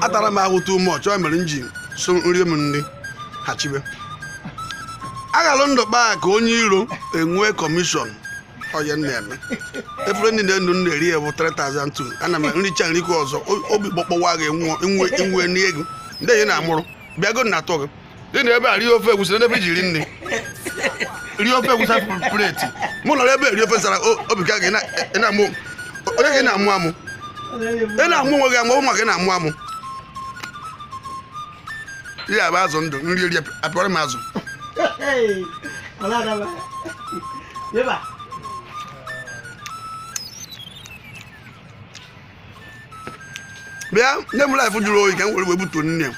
atara m ahụ too much ọ mere m ji so nri m nri ha chibe aghalụ ndụ kpaa ka onye iro enwe commission ọ ya m na-eme efere ndị n'enu m na-eri ya bụ 3002 ana m nricha nrikwa ọzọ o- obi gbọkpọwa gị nwụọ inwe inwe n'ego ndị enyi na-amụrụ bịago na atọ gị ị nọ ebe a rie ofe egwusi n'ebe iji ri nri rie ofe egwusi plate mụ nọrọ ebe eri ofe nsala obi ka gị na-amụ onye gị na-amụ amụ ị na-amụ onwe gị amụ ụmụ gị na-amụ amụ ya bụ azụ ndụ nri eri apịọrọ m azụ bịa nye m Life jụrụ oyi ka m were wee butuo nri m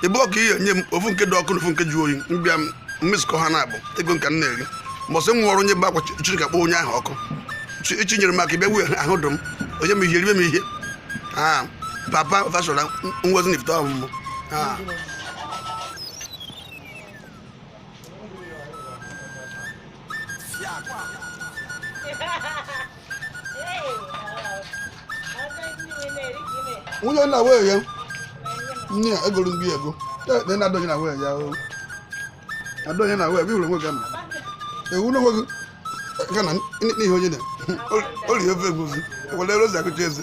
ebe ọka ihe nye m ofu nke dị ọkụ na ofu nke ju oyi m bịa m mixkọ ha n'abụọ ego m ka m na-eri mbọsị m nwụrụ onye bee akwa Chineke kpọọ onye ahụ ọkụ chi nyere m aka bịa wee ahụ dụ m onye m ihe ribe m ihe aa papa fashola ngozi na ifite ọmụmụ aa nwunye nna wee ya nne ya egoro ndị ego ekpe na adọghị na wee ya o adọghị na wee bịhụrụ onwe gị ama ewu na onwe gị ga na n'ihe onye na o rie ofe egusi were rozi akụcha eze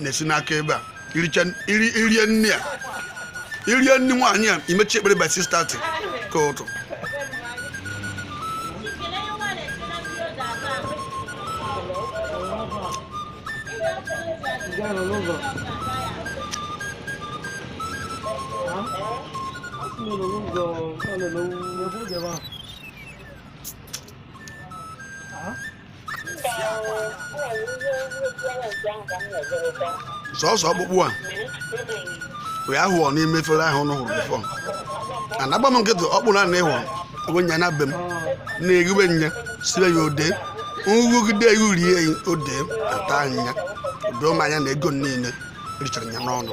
na-esi n'aka ebe a i rie nri ya i rie nri nwaanyị a i mechie ekpere by 6:30 nke ụtụtụ Huh? sọsọ ọkpụkpụ a wee ahụ ọ n'ime efere ahụ ụnụ hụrụ before anagba m nkịtị ọkpụ na na ịhụ onwe nya na be m na-ehiwe nya sibe ya odee nrụgide ihu rie ya odee ata anya doo m anya na ego niile richara ya n'ọnụ